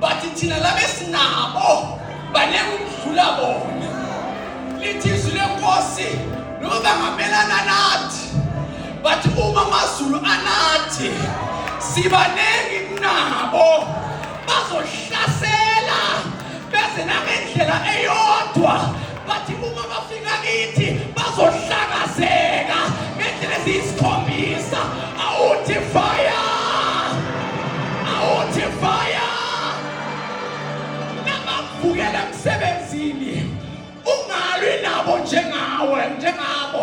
but thina laba esinabo baningi ukudlula bona lithi izwi lenkosi noma bangamelana nathi but uma amazulu anathi sibaningi kunabo bazohlasela beze nangendlela eyodwa bathi uma bafika kithi bazohlakazeka ngendlela eziyisikhombisa awuthi fire awuthi fire nabavukela emsebenzini ungalwi nabo njengawe njengabo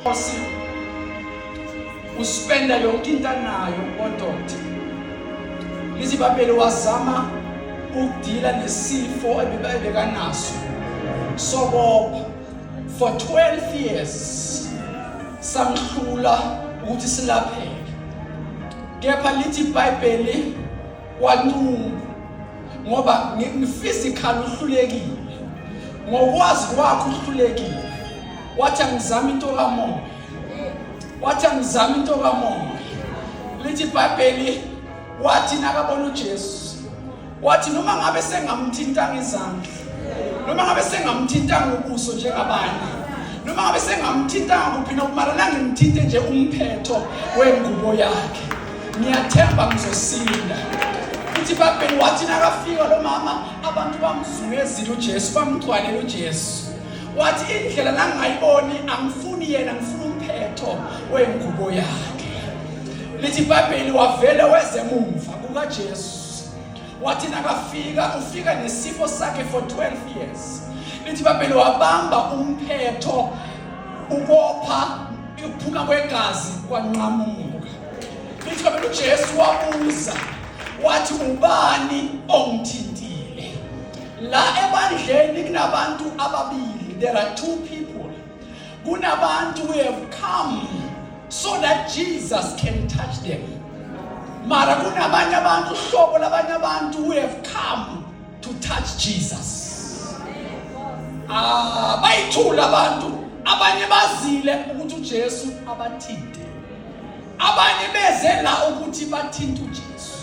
Nkosi uspenda yonke into anayo kodoti izibabele wazama ukudila nesifo ebebekanaso sobopha for 12 years samhlula ukuthi silapheke kepha lithi ibhayibheli wanquma ngoba ngiphysically uhlulekile ngokwazi kwakho uhlulekile wathi angizama into kamoya wathi angizama into kamoya lithi ibhayibheli wathi nakabona ujesu wathi noma ngabe sengamthintanga izandla noma ngabe sengamthintanga ubuso njengabanye noma ngabe sengamthintanga kuphi nokumalana ngimthinte nje umphetho wengubo yakhe ngiyathemba ngizosinda futhi babheni wathi nakafika lo mama abantu bamzungezile ujesu bamgcwalela ujesu wathi indlela langayiboni angifuni yena ngifuna umphetho wengubo yakhe lithi ibhayibheli wavele wezemumva kukajesu wathi nakafika ufika nesifo sakhe for 12 years lithi ibhayibheli wabamba umphetho ukopha ukuphuma kwegazi kwanqamuka Lithiwa phela uJesu wabuza wathi ubani ongithintile. La ebandleni kunabantu ababili. There are two people. Kunabantu who have come so that Jesus can touch them. Mara kunabanye abantu uhlobo labanye abantu who have come to touch Jesus ah bayithula abantu abanye bazile ukuthi uJesu abathinte abanye beze la ukuthi bathinte uJesu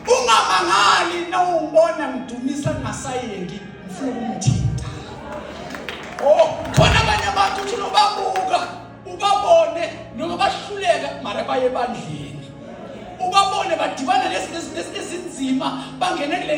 ungamangali nawubona ngidumisa ngasayengi ngifuna ukumthinta oh khona abanye abantu uthi nobabuka ubabone noma bahluleka mara baye ebandleni ubabone badibana nezinto ezinzima bangene kule